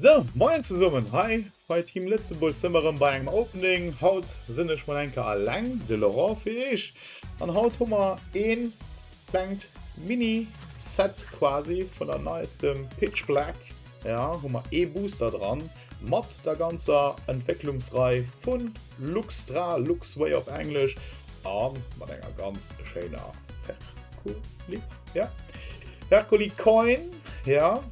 Sou, moien zesummen hei bei Team Lëtzebuerg sinn mer rëm bei engem Opening. Haut sinn ech mol enker alleng, de Laurent fir iech, an haut hu mer ee klengt Mini Set quasi vun der neiestem Pitch Black, jo hu mer ee Booster dran mat der ganzer Entwécklungsrei vun Luxtra, Luxway op Englesch, a mat enger ganz schéiner Ferkulib, jo Ferkulicoin, jo.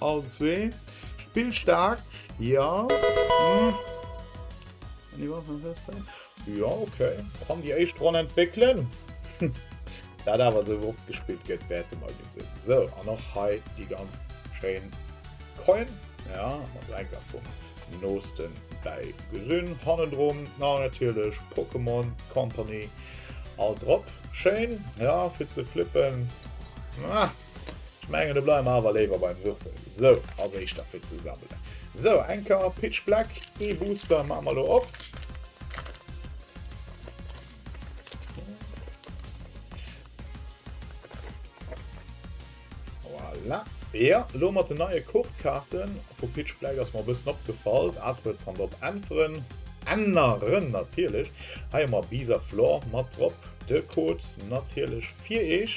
All zwee. Spill staark, jo. Jo, ok. Kann déi éischt Ronn entwéckelen. Dat awer esou oft gespillt gëtt, wäerte mer gesinn. Sou, an och hei déi ganz schéin Coin. Jo, also enker vum nooste bäi gesinn. Hannendrun natierlech Pokémon Company. All drop. Schéin, jo, fir ze flippen. Ech mengen do bleiwe mer awer léiwer beim Würfel. Sou, als éischter fir ze sammelen. Sou, eng Kar Pitch Black, ee Booster maache mer lo op. Voilà. Jo, lo mat den neie Kortkaarte vu Pitch Black ass mer e bëssen opgefall. Artworks han drop äntweren. Änneren natierlech. Hei hu mer Bees of Lore mat drop. De Code natierlech fir iech.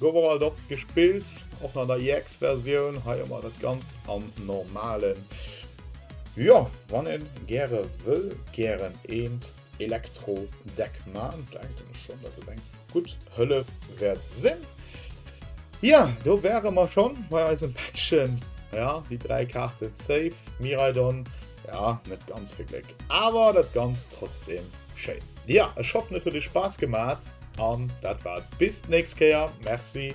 Gouf och alt oft gespillt, och nach an der EX Versioun. Hei hu mer dat ganzt am normalen. Jo, wann een gäre wëll gären eent Elektro Deck maan, denken ech schon dat et eng gutt Hëllef wärt sinn. Ja, do wäre mer schon bei eisem Päckchen, ja déi 3 Kaarten Save, Miraidon, Ja, net ganz vill Gléck, awer dat Ganzt trotzdem schéin. Ja, ech hoffen et huet iech Spaass gemat an dat war et bis d'nächst Kéier. Merci.